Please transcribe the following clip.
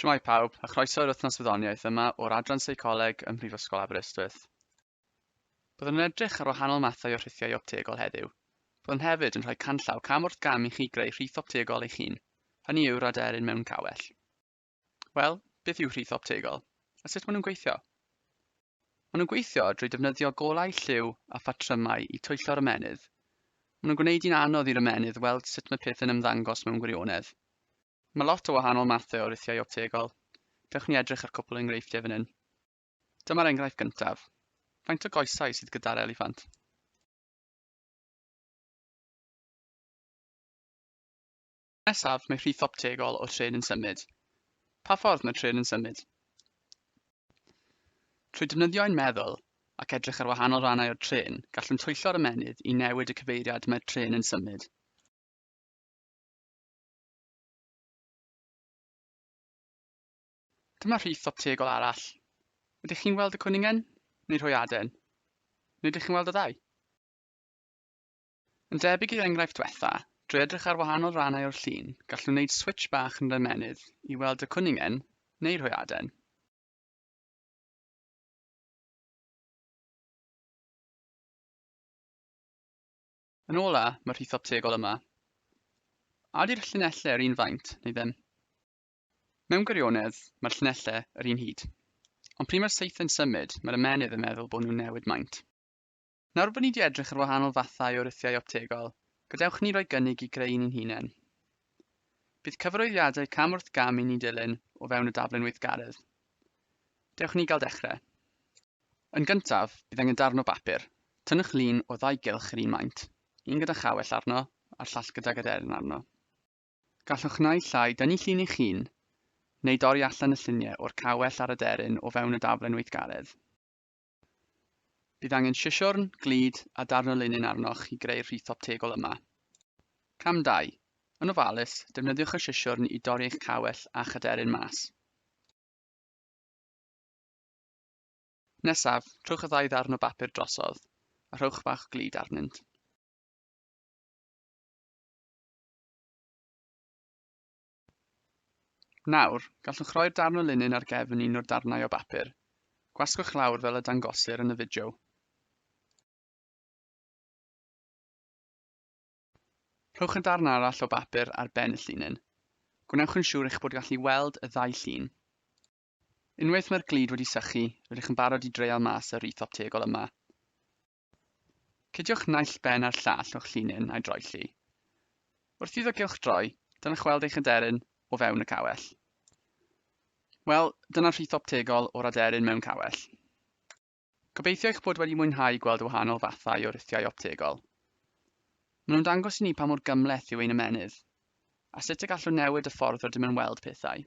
Shwmae pawb, a chroeso i'r wythnos wyddoniaeth yma o'r Adran Seicoleg ym Mhrifysgol Aberystwyth. Byddwn yn edrych ar wahanol mathau o rhithiau optegol heddiw. Byddwn hefyd yn rhoi canllaw cam wrth gam i chi greu rhith optegol eich hun, hynny yw'r aderyn mewn cawell. Wel, beth yw rhith optegol, a sut maen nhw'n gweithio? Maen nhw'n gweithio drwy defnyddio golau lliw a phatrymau i twyllo'r ymennydd. Maen nhw'n gwneud hi'n anodd i'r ymennydd weld sut mae peth yn ymddangos mewn gwirionedd. Mae lot o wahanol mathau o rithiau optegol. Dewch ni edrych ar cwpl o enghreifftiau fan hyn. Dyma'r enghraifft gyntaf. Faint o goesau sydd gyda'r eliffant? Nesaf, mae rhith optegol o tren yn symud. Pa ffordd mae tren yn symud? Trwy defnyddio ein meddwl ac edrych ar wahanol rannau o'r tren, gallwn twyllo'r ymennydd i newid y cyfeiriad mae'r tren yn symud. Dyma rhith strategol arall. Ydych chi'n weld y cwningen, neu rhoi aden? Neu ydych chi'n weld y ddau? Yn debyg i'r enghraifft diwetha, drwy edrych ar wahanol rannau o'r llun, gallwn wneud switch bach yn yr ymennydd i weld y cwningen, neu rhoi aden. Yn ôl A, mae'r rhithop tegol yma. A ydy'r llinellau yr un faint, neu ddim? Mewn gwirionedd, mae'r llinellau yr un hyd. Ond pryd mae'r seithau'n symud, mae'r ymenydd yn meddwl bod nhw'n newid maint. Nawr bod ni wedi edrych ar wahanol fathau o rithiau optegol, gadewch ni roi gynnig i greu ni'n hunain. Bydd cyfarwyddiadau cam wrth gam i ni dilyn o fewn y daflen weithgaredd. Dewch ni gael dechrau. Yn gyntaf, bydd angen darn o bapur. Tynnwch lun o ddau gylch yr un maint, un gyda chawell arno a'r llall gydag aderyn arno. Gallwch naill ai dynnu llun eich hun, neu dorri allan y lluniau o'r cawell a'r aderyn o fewn y daflen weithgaredd. Bydd angen sisiwrn, glud a darn o linyn arnoch i greu'r rhith optegol yma. Cam 2. Yn ofalus, defnyddiwch y sisiwrn i dorri eich cawell a'ch aderyn mas. Nesaf, rhowch y ddau ddarn o bapur drosodd, a rhowch bach glid arnynt. Nawr, gallwch roi'r darn o linyn ar gefn un o'r darnau o bapur. Gwasgwch lawr fel y dangosir yn y fideo. Rhowch y darn arall o bapur ar ben y llinyn. Gwnewch yn siŵr eich bod gallu weld y ddau llun. Unwaith mae'r glud wedi sychu, rydych yn barod i dreial mas y wreath optegol yma. Cydiwch naill ben a'r llall o'ch llinyn a'i droi llu. Wrth iddo gylch droi, dylech weld eich aderyn o fewn y cawell. Wel, dyna rhith optegol o'r aderyn mewn cawell. Gobeithio eich bod wedi mwynhau gweld y wahanol fathau o rithiau optegol. Maen nhw'n dangos i ni pa mor gymhleth yw ein ymennydd, a sut y gallwn newid y ffordd rydym yn weld pethau.